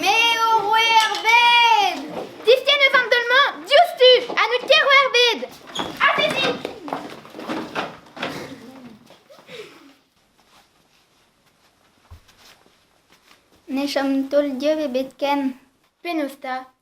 Me ho roe ar bed! Diskenn eus an teul-mañ diouzhtu ha n'out ket roer bed! Atezit! Ne chom taol-dieub ebet ken. Penaos 'ta?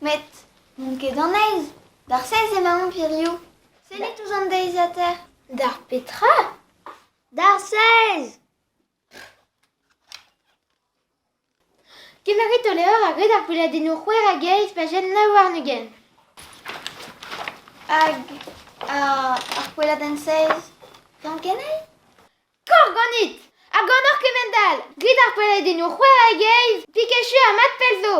Met n'on ket an aez, d'ar sez emaon hiziv, sellit ouzh an deiziataer. D'ar petra? D'ar sez! Kemeret ho levr a greut ar gweladennoù c'hwec'h hag eizh pajenn nav warn-ugent. Hag ar gweladenn seiz, yann kenei? Korf ganit! Ha ganeoc'h kement-all! Grit ar peledennoù c'hwec'h hag eizh, pik echu ha mat pell zo!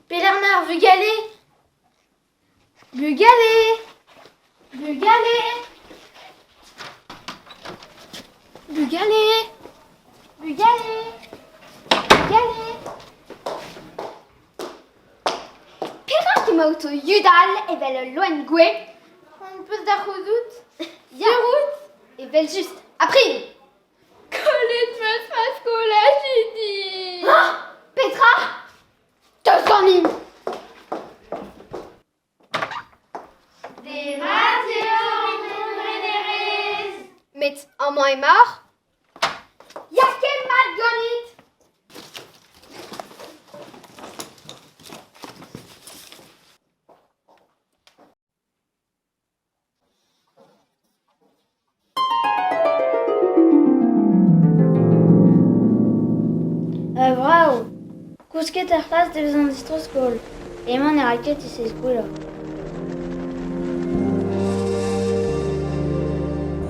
Pelec'h 'mañ ar vugale? Bugale! Bugale! Bugale! Bugale! Bugale! Perak emaout o yudal evel ul loen gouez? Hon peus da c'houzout, dirout, evel just, ha prini! Kollet ma faskoulajidi. Petra? Deus ganin! Demat eo an entrenerez! Met amañ emaoc'h? Ya ket mat ganit! Brav ! Kousket er c'hlas da vezañ distro-skol. Emañ ne ra ket e sez-goulañ.